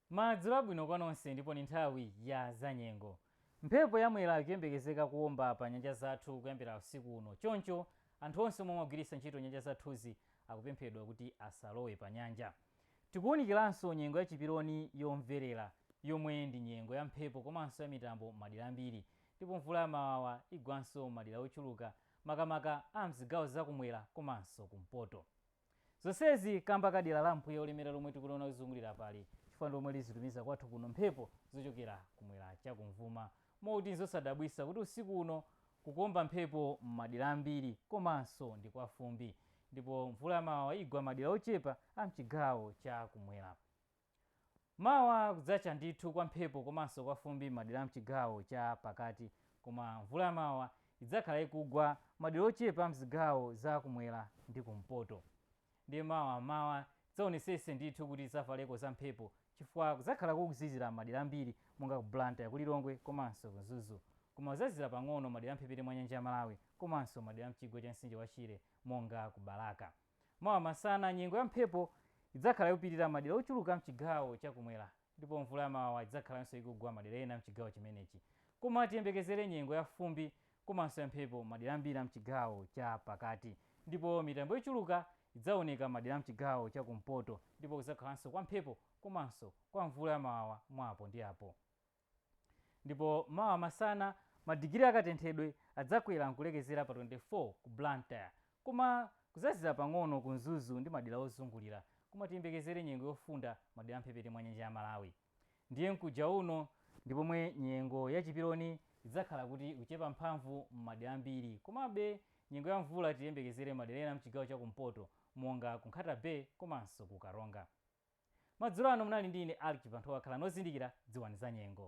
Madzulo abwino kwa nonse ndipo ni nthawi ya zanyengo. Mphepo ya Mwera ikuyembekezeka kuwomba pa nyanja zathu kuyambira usiku uno. Choncho, anthu onse omwe amagwiritsa ntchito nyanja zathuzi akupemphedwa kuti asalowe panyanja. Tikuwunikiranso nyengo ya chiperoni yomverera yomwe ndi nyengo ya mphepo komanso ya mitambo m'madera ambiri. Ndipo mvula ya mawawa igwanso m'madera ochuluka makamaka a mzigawo za kumwera komanso kumpoto. Zonsezi kamba ka dera la mpweya olemera lomwe tikuliona kuzungulira apali chifukwa ndi lomwe lizitumiza kwathu kuno mphepo zochokera kumwera cha kumvuma moti nzosadabwisa kuti usiku uno kukuomba mphepo m'madera ambiri komanso ndi kwa fumbi ndipo mvula ya mawawa igwa madera ochepa a mchigawo cha kumwera. Mawa kudzacha ndithu kwa mphepo komanso kwa fumbi m'madera a m'chigawo cha pakati koma mvula ya mawawa idzakhala ikugwa madera ochepa m'zigawo za kumwera ndi kumpoto. Ndiye mawa m'mawa tidzaonesese ndithu kuti tidzavaleko za mphepo chifukwa kudzakhala kukuzizira m'madera ambiri monga ku Blantyre, ku Lilongwe komanso ku Mzuzu. Koma kudzazizira pang'ono madera a mphepete mwa nyanja ya Malawi komanso madera a mchigwa cha mtsinje wa Shire monga ku Balaka. Mawa masana, nyengo ya mphepo idzakhala ikupitirira madera ochuluka a mchigawo cha kumwera ndipo mvula ya mawawa idzakhalanso ikugwa madera ena a mchigawo chimenechi koma tiyembekezere nyengo ya fumbi komanso ya mphepo madera ambiri a mchigawo cha pakati ndipo mitambo yochuluka idzaoneka madera a mchigawo cha kumpoto ndipo kudzakhalanso kwa mphepo komanso kwa mvula ya mawawa mwa apo ndi apo. Ndipo mawa masana madigiri a katenthedwe adzakwera n'kulekezera pa 24 ku Blantyre. Koma kudzazizira pang'ono ku Mzuzu ndi madera ozungulira. Koma tiyembekezere nyengo yofunda madera a m'mphepete mwa nyanja ya Malawi. Ndiye mkuja uno ndi pomwe nyengo ya chiperoni idzakhala kuti ikuchepa mphamvu m'madera ambiri. Komabe nyengo ya mvula tiyembekezere m'madera ena a m'chigawo cha kumpoto monga ku Nkhata Bay komanso ku Karonga. Madzulo ano munali ndi ine Alick Chibanthowa khalani ozindikira dziwani zanyengo.